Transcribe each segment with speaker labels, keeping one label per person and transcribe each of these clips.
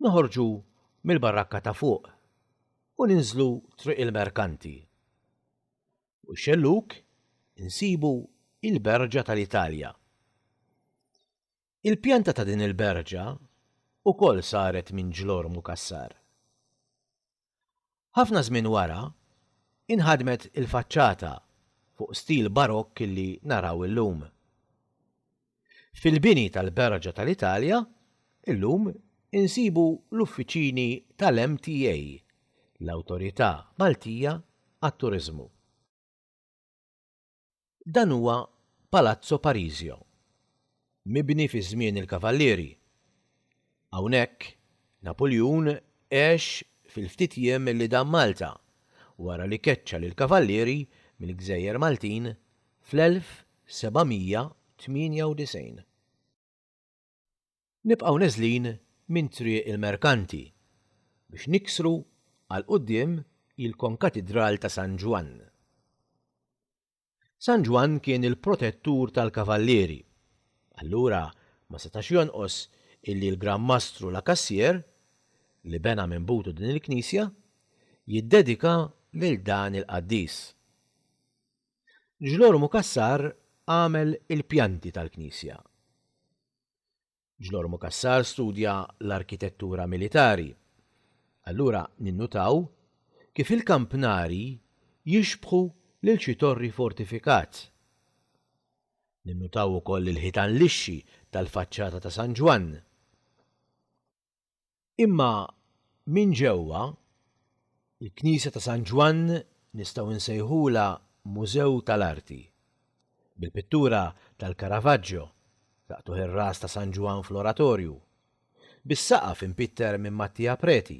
Speaker 1: noħorġu mill-barakka ta' fuq u ninżlu triq il-merkanti. U xelluk insibu il-berġa tal-Italja. Il-pjanta ta' din il-berġa ukoll saret minn ġlorr mukassar. Ħafna żmien wara, inħadmet il-faċċata fuq stil barokk li naraw illum. Fil-bini tal-berġa tal-Italja, illum insibu l-uffiċini tal-MTA, l-Awtorità Maltija għat-Turiżmu. Dan huwa Palazzo Parisio, mibni fi żmien il-Kavallieri. Hawnhekk, Napuljun għex fil-ftit jiem li dam Malta, wara li keċċa lill-Kavallieri mill-Gżejjer Maltin fl-1798. Nibqgħu neżlin minn Triq il-Merkanti biex niksru għal quddiem il-Konkatidral ta' San Ġwann. San Ġwann kien il-protettur tal-Kavallieri, allura ma setax jonqos illi l-Gran Mastru La Cassière, li bena minn butu din il-knisja, jiddedika lil dan il-qaddis. Ġlormu Cassar għamel il-pjanti tal-knisja. Ġlormu Cassar studja l-arkitettura militari. Allura ninnutaw kif il-kampnari jixbħu lil xi torri fortifikat. Ninnutaw ukoll il-ħitan lixxi tal-faċċata ta' San Ġwann. Imma minn ġewwa, il-Knisja ta' San Ġwann nistgħu nsejħulha mużew tal-arti, bil-pittura tal-Caravaggio, taqtugħ ir-ras ta' San Ġwann fl-oratorju, bis-saqaf impitter minn Mattia Preti,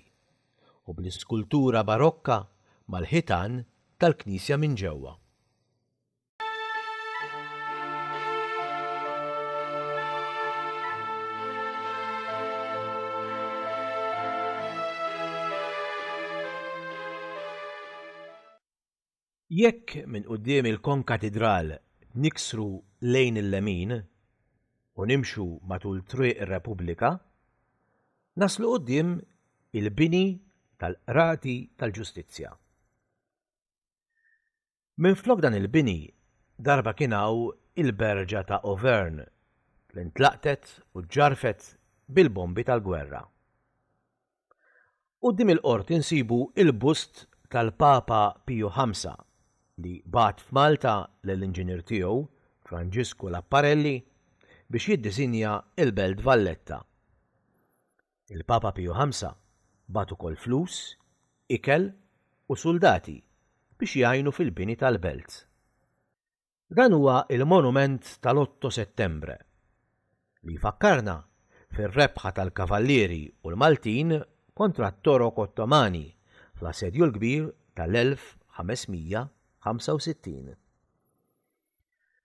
Speaker 1: u bl-iskultura barokka mal-ħitan tal-knisja minn ġewwa. Jekk minn quddiem il-Konkatidral niksru lejn il-lemin u nimxu matul Triq ir-Repubblika, naslu quddiem il-bini tal-Qrati tal-Ġustizzja. Minflok dan il-bini, darba kien hawn il-berġa ta' Auvergne li ntlaqtet u ġġarrfet bil-bombi tal-gwerra. Quddiem il-qorti nsibu il-bust tal-Papa Piju Ħamsa li bagħat f'Malta lill-inġinier tiegħu, Franġisku Lapparelli, biex jiddisinja l-Belt Valletta. Il-Papa Piju Ħamsa bagħat ukoll flus, ikel u suldati biex jgħinu fil-bini tal-belt. Dan huwa il-monument tal-Otto Settembre, li jfakkarna fir-rebħa tal-Kavallieri u l-Maltin kontra t-Torok Ottomani fl-Assedju l-Kbir tal-1565.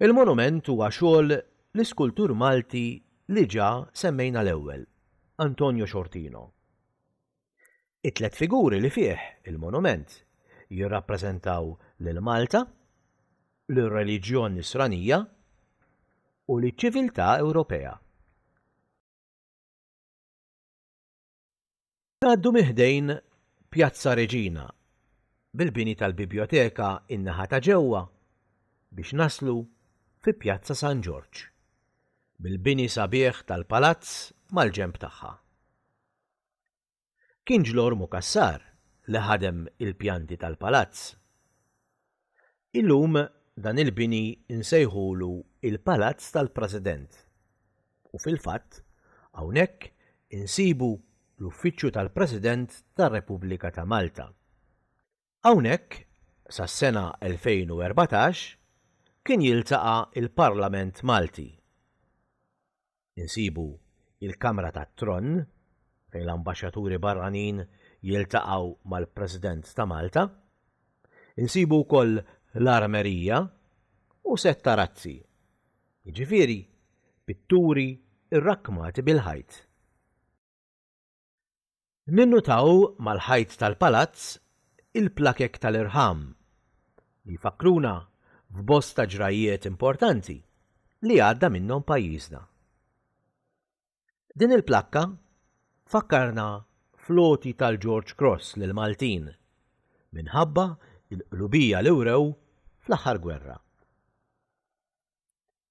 Speaker 1: Il-monument huwa xogħol l-iskultur Malti li ġa semmejna l-ewwel, Antonio Sciortino. It-tliet figuri li fih il-monument jirrappreżentaw lil Malta, lir-reliġjon Nisranija u liċ-ċiviltà Ewropea. Ngħaddu minn ħdejn Pjazza Reġina, bil-bini tal-Bibjoteka in-naħa ta' ġewwa, biex naslu fi Pjazza San Ġorġ, bil-bini sabiħ tal-Palazz mal-ġenb tagħha. Kien Ġlormu Cassar li ħadem il-pjanti tal-Palazz. Illum dan il-bini nsejħulu il-Palazz tal-President u fil-fatt hawnhekk insibu l-Uffiċċju tal-President tar-Repubblika ta' Malta. Hawnhekk sas-sena 2014 kien jiltaqa' l-Parlament Malti. insibu il-Kamra tat-Tronn fejn l-ambaxxaturi barranin jiltaqgħu mal-President ta' Malta, insibu wkoll l-Armerija u sett ta' razzi, jiġifieri pitturi rrakkmati bil-ħajt. Ninnutaw mal-ħajt tal-palazz il-plakek tal-irħam li jfakkruna f'bosta ġrajjiet importanti li għadda minnhom pajjiżna. Din il-plakka tfakkarna fl-għoti tal-George Cross lill-Maltin minħabba l-qlubija li wrew fl-aħħar gwerra.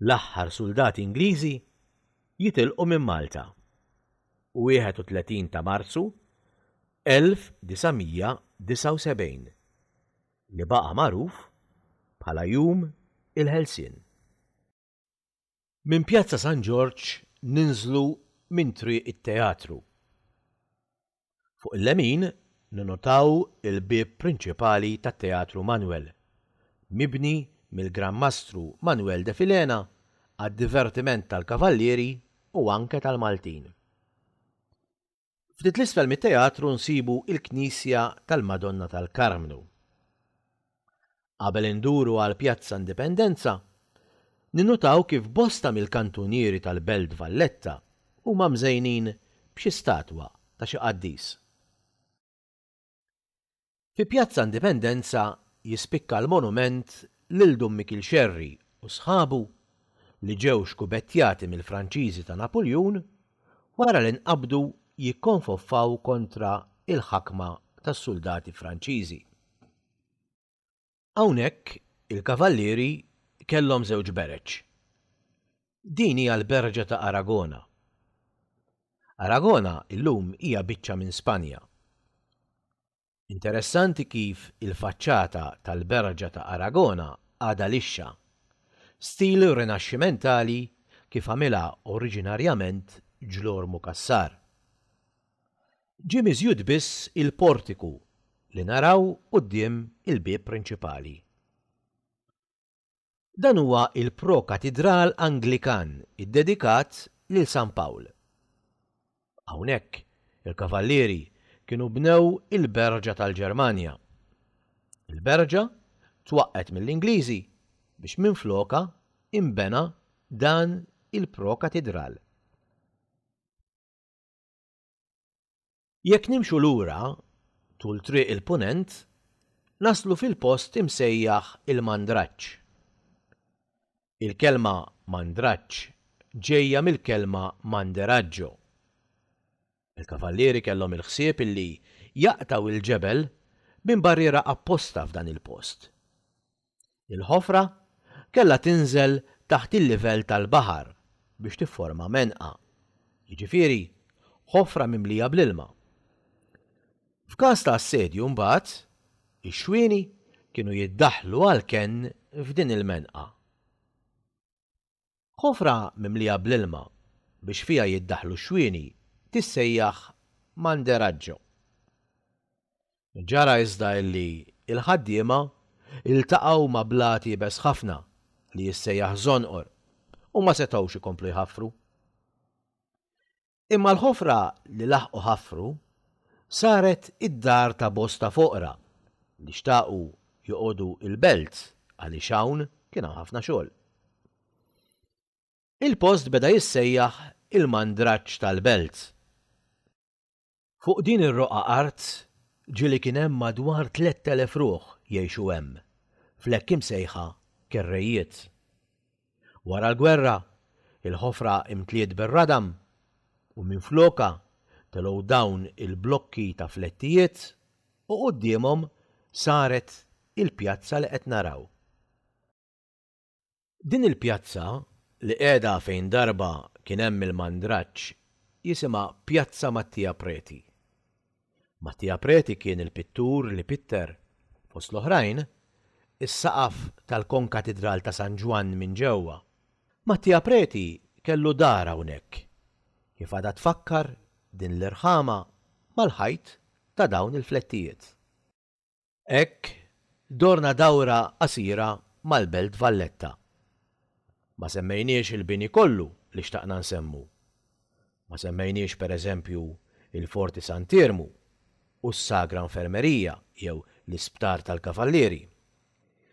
Speaker 1: L-aħħar suldati Ingliżi jitilqu minn Malta, 31 ta' Marzu 1979, li baqa' magħruf bħala Jum il-Ħelsien. Minn Pjazza San Ġorġ ninżlu minn Triq it-Teatru. Fuq il-lemin ninnotaw il-bieb prinċipali tat-Teatru Manwel, mibni mill-Gran Mastru Manwel de Filena għad-divertiment tal-Kavallieri u anke tal-Maltin. Ftit 'l isfel mit-teatru nsibu il-knisja tal-Madonna tal-Karmnu. Qabel induru għal Pjazza Indipendenza, ninnutaw kif bosta mill-kantunieri tal-Belt Valletta huma mżejnin b'xi statwa ta' xi qaddis. Fi Pjazza Indipendenza jispikka l-monument lil Dun Mikiel Scerri u sħabu li ġew xkubettjati mill-Franċiżi ta' Napuljun wara li nqabdu jikkonfoffaw kontra il-ħakma tas-suldati Franċiżi. Hawnhekk il-kavallieri kellhom żewġ bereġ. Din hija l-berġa ta' Aragona. Aragona illum hija biċċa minn Spanja. Interessanti kif il-faċċata tal-berġa ta' Aragona għadha lixxa, stil Rinaxximentali kif għamilha oriġinarjament Ġlormu Cassar. Ġie miżjud biss il-portiku li naraw quddiem il-bieb prinċipali. Dan huwa il-pro-katidral Anglikan iddedikat lil San Pawl. Hawnhekk il-Kavallieri kienu bnew il-Berġa tal-Ġermanja. Il-Berġa twaqqgħet mill-Ingliżi biex minflokha inbena dan il-pro-katidral. Jekk nimxu lura tul Triq il-Punent, naslu fil-post imsejjaħ il-Mandraġġ. Il-kelma Mandraġġ ġejja mill-kelma Manderaggio. Il-kavallieri kellhom il-ħsieb illi jaqtgħu l-ġebel minn barriera apposta f'dan il-post. Il-ħofra kellha tinżel taħt il-livell tal-baħar biex tifforma menqa, jiġifieri ħofra mimlija bl-ilma. F'każ ta' assedju mbagħad, ix-xwieni kienu jiddaħħlu għall-kenn f'din il-menqa. Ħofra mimlija bl-ilma biex fiha jiddaħħlu x-xwieni tissejjaħ manderaggio. Ġara iżda illi l-ħaddiema ltaqgħu ma' blat iebes ħafna li jissejjaħ żonqor u ma setgħux ikomplu jħaffru. Imma l-ħofra li laħqu ħaffru saret id-dar ta' bosta foqra li xtaqu joqogħdu l-belt għaliex hawn kien hawn ħafna xogħol. Il-post beda jissejjaħ il-Mandraġġ tal-Belt. Fuq din ir-roqgħa art ġieli kien hemm madwar tlett elef ruħ jgħixu hemm, fl-hekk imsejħa kerrejjiet. Wara l-gwerra, il-ħofra imtliet bir-radam u minflokha telgħu dawn il-blokki ta' flettijiet u quddiemhom saret il-pjazza li qed naraw. Din il-pjazza, li qiegħda fejn darba kien hemm il-mandraġġ, jisimha Pjazza Mattia Preti. Mattia Preti kien il-pittur li pitter, fost l-oħrajn, is-saqaf tal-konkatidral ta' San Ġwann minn ġewwa. Mattia Preti kellu dar hawnhekk, kif għadha tfakkar din l-irħama mal-ħajt ta' dawn il-flettijiet. Hekk dorna dawra qasira mal-Belt Valletta. Ma semmejniex il-bini kollu li xtaqna nsemmu. Ma semmejniex per eżempju il-Forti Sant'Iermu u s-Sagra Infermerija jew l-Isptar tal-Kavallieri.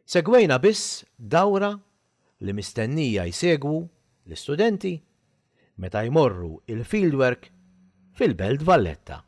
Speaker 1: Segwejna biss dawra li mistennija jsegwu l-istudenti meta jmorru il-fieldwork fil-Belt Valletta.